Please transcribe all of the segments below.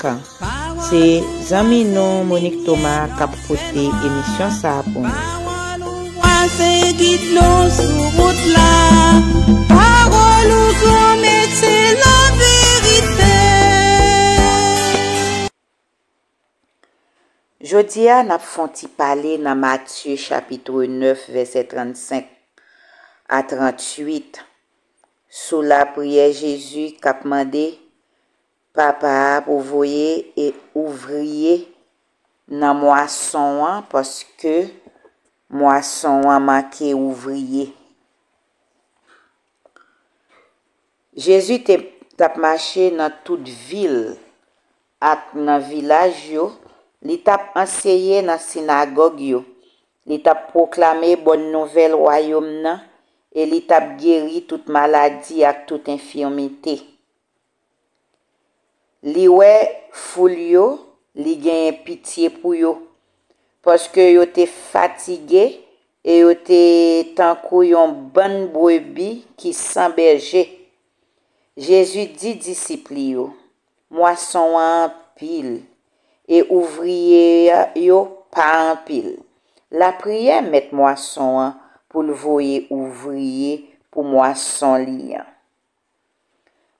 kan. Se zanmi nou Monique Thomas kap pote emisyon sa pou nou. Pawòl ou vwa se gid nou sou wout la Pawòl ou gran mèt se laverite. Jodi a nap fon ti pale nan Matye chapitre 9 vèsè 35 a 38 sou lapriyè Jezi kap mande Papa a pou voye e ouvriye nan mwason an paske mwason an manke ouvriye. Jezi te t ap mache nan tout vil ak nan vilaj yo, li t ap anseye nan sinagòg yo, li t ap pwoklame bon nouvèl Wayòm nan e li t ap geri tout maladi ak tout enfimite. Li wè foul yo, li genyen pitye pou yo, paske yo te fatige e yo te tankou yon bann brebi ki san bèje. Jezi di disip li yo, Mwason an anpil, e ouvriye yo pa anpil. Lapriyè mèt mwason an pou l voye ouvriye pou mwason li an.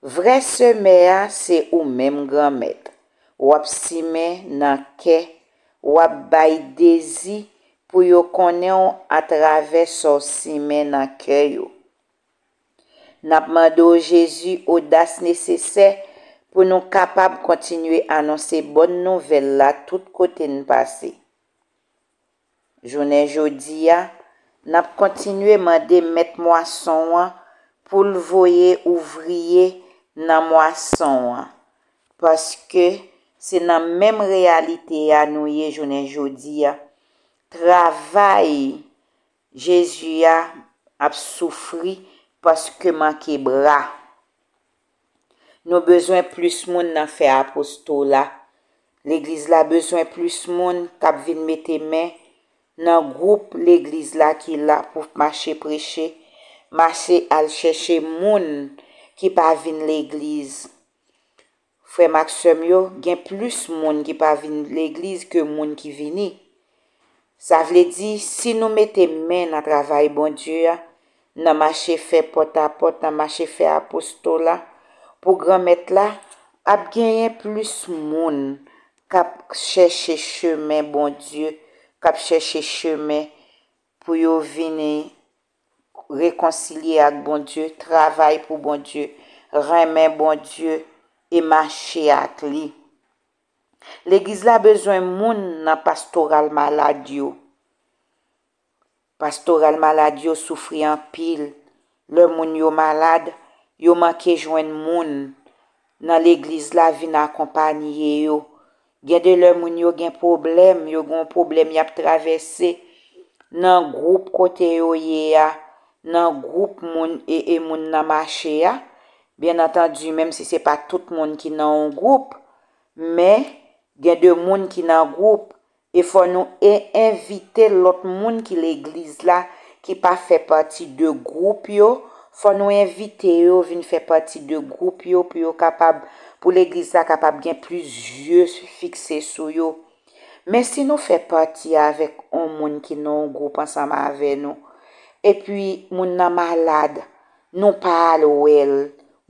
Vrè semè a se ou menm Granmèt, w ap simen nan kè, w ap bay dezi pou yo konnen w atravè sa w simen nan kè yo. N ap mande w Jezi odas nesesè pou nou kapab kontinye anonse bòn nouvèl la tout kote n pase. Jounen jodi a, n ap kontinye mande Mèt mwason an pou l voye ouvriye nan mwason an, paske se nan menm reyalite a nou ye jounen jodi a. Travay Jezi a ap soufri paske manke bra. Nou bezwen plis moun nan fè apostola. Legliz la bezwen plis moun k ap vin mete men nan gwoup legliz la ki la pou mache preche, mache al chèche moun ki pa vin legliz. Frè m ak sè m yo, gen plis moun ki pa vin legliz ke moun ki vini. Sa vle di, si nou mete men nan travay Bondye a, nan mache fè pòtapòt, nan mache fè apostola pou Granmèt la, ap genyen plis moun k ap chèche chemen Bondye, k ap chèche chemen pou yo vini rekonsilye ak Bondye, travay pou Bondye, renmen Bondye e mache ak li. Legliz la bezwen moun nan pastoral malad yo. Pastoral malad yo soufri anpil. Lè moun yo malad, yo manke jwenn moun nan legliz la vin akonpanye yo. Gen de lè moun yo gen pwoblèm, yo gen yon pwoblèm y ap travèse, nan gwoup kote yo ye a, nan gwoup moun e moun nan mache a, Byen antandi menm si se pa tout moun ki nan yon gwoup, men gen de moun ki nan gwoup e fò nou e envite lòt moun ki legliz la ki pa fè pati de gwoup yo, fò nou envite yo vin fè pati de gwoup yo pou yo kapab, pou legliz la kapab gen plis zye fikse sou yo. Men si nou fè pati avèk yon moun ki nan yon gwoup ansanm avè nou, epi moun nan malad, Nou pa al wè l.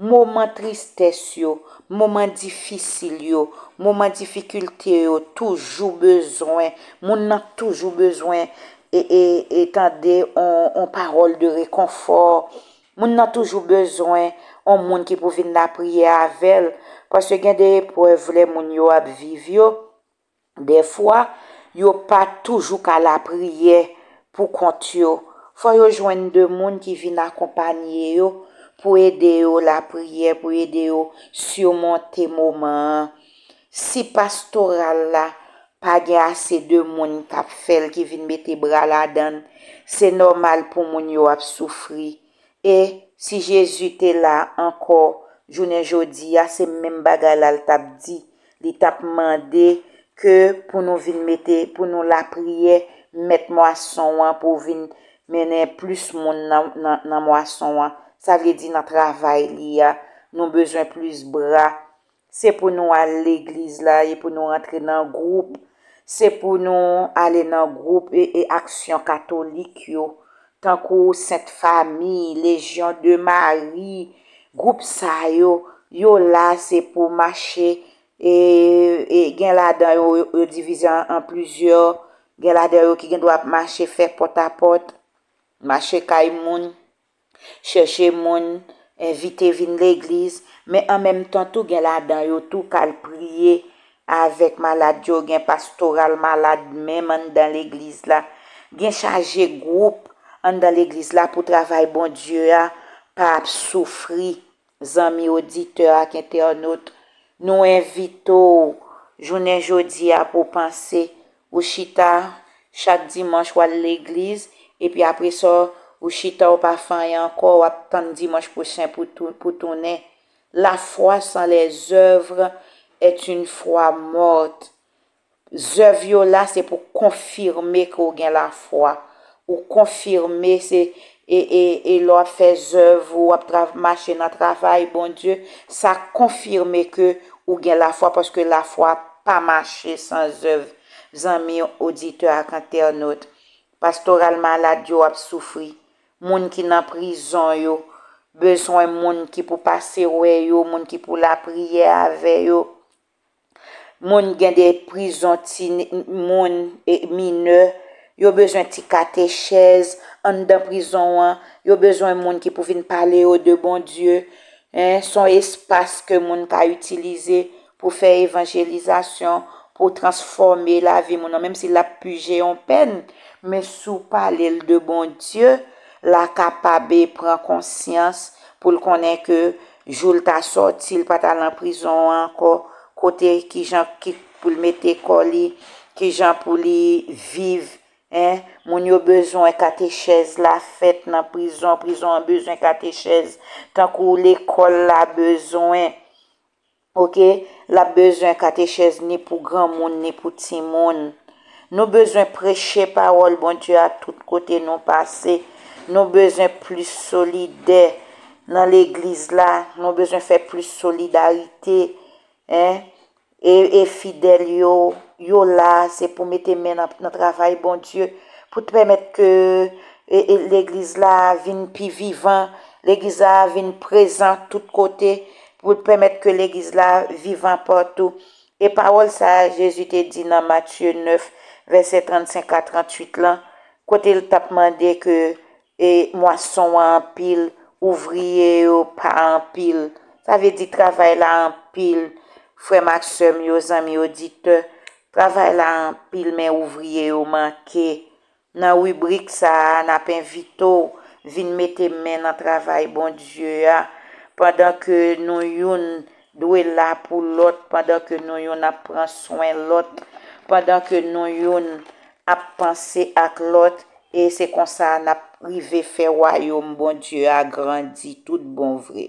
Moman tristès yo, moman difisil yo, moman difikilte yo toujou bezwen, moun nan toujou bezwen e tande on pawòl de rekonfò. Moun nan toujou bezwen on moun ki pou vin lapriyè avè l. Paske gen de eprèv lè moun yo ap viv yo. Dèfwa, yo pa toujou ka lapriyè pou kont yo. Fò yo jwenn de moun ki vin akonpanye yo pou ede yo lapriyè, pou ede yo simonte moman an. Si pastoral la pa gen ase de moun k ap fè l, ki vin mete bra ladan l, se nòmal pou moun yo ap soufri. E, si Jezi te la ankò jounen jodi a, se menm bagay la l t ap di, Li t ap mande ke pou nou vin mete, pou nou lapriyè Mèt mwason an pou vin mennen plis moun nan mwason an. Sa vle di nan travay li a. Nou bezwen plis bra. Se pou nou al legliz la e pou nou rantre nan gwoup. Se pou nou ale nan gwoup e aksyon katolik yo. Tankou Sent Fami, Lejyon de Mari, gwoup sa yo, yo la se pou mache e gen ladan yo, yo divize an plizyè, gen ladan yo ki gen dwa ap mache fè pòtapòt, mache kay moun, chèche moun, envite vin legliz, men an menm tan tou gen ladan yo tou k al priye Avèk malad yo, gen pastoral malad menm anndan legliz la. Gen chaje gwoup anndan legliz la pou travay Bondye a pa ap soufri. Zanmi oditè ak entènot, nou envite w jounen jodi a pou w panse. Ou chita, chak dimanch w al legliz, epi apresa w chita w pa fè anyen ankò, w ap tann dimanch pwochen pou w tounen. La foi sans les œuvres est une foi morte. Zèv yo la se pou konfime ke w gen la foi. Ou konfime se e e e lè w ap fè zèv ou ap tra mache nan travay Bondye, sa konfime ke ou gen la foi paske la foi pa mache san zèv. Zanmi oditè ak entènot, Pastoral malad yo ap soufri. Moun ki nan prizon yo. Bezwen moun ki pou pase wè yo, moun ki pou lapriyè avè yo. Moun gen de prizon ti moun, minè. Yo bezwen ti katechèz anndan prizon an. Yo bezwen moun ki pou vin pale yo de Bondye. Son espas ke moun ka itilize pou fè evanjelizasyon, pou w transfòme lavi moun nan, menm si l ap pije yon pèn, men si w pale l de Bondye, la kapabe pran konsyans pou l konnen ke jou l ta sòti, l pa ta lan prizon an ankò, kote ki jan ki pou l mete kò li, ki jan pou li viv, en, moun yo bezwen katechèz la fèt nan prizon, prizon an bezwen katechèz, tankou lekòl la bezwen Ok lap bezwen katechèz ni pou granmoun ni pou timoun nou bezwen preche pawòl Bondye a tout kote nou pase nou bezwen plis solidè nan legliz la nou bezwen fè plis solidarite e fidèl yo yo la se pou mete men nan travay Bondye pou t pèmèt ke legliz la vin pi vivan legliz la vin prezan tout kote pou l pèmèt ke Legliz la vivan patou. E pawòl sa a Jezi te di nan Matye 9, vèsè 35 a 38 lan, kote l t ap mande ke mwason an anpil, ouvriye yo pa anpil. Sa vle di travay la anpil, frè m ak sè m yo, zanmi oditè, travay la anpil men ouvriye yo manke. Nan ribrik sa a, n ap envite w vin mete men nan travay Bondye a, pandan ke nou youn dwe la pou lòt, pandan ke nou youn ap pran swen lòt, pandan ke nou youn ap panse ak lòt, e se konsa n ap rive fè wayòm Bondye a grandi tout bon vre.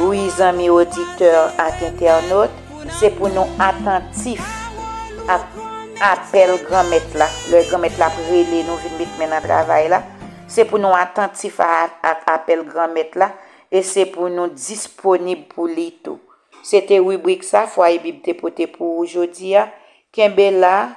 Wi zanmi oditè ak entènot, se pou nou atantif ak apèl Granmèt la, lè Granmèt la ap rele nou vin met men nan travay la, se pou nou atantif ak apèl Granmèt la e se pou nou disponib pou li tou. Se te ribrik sa Fwaye Bib te pote pou ou jodi a. Kenbe la,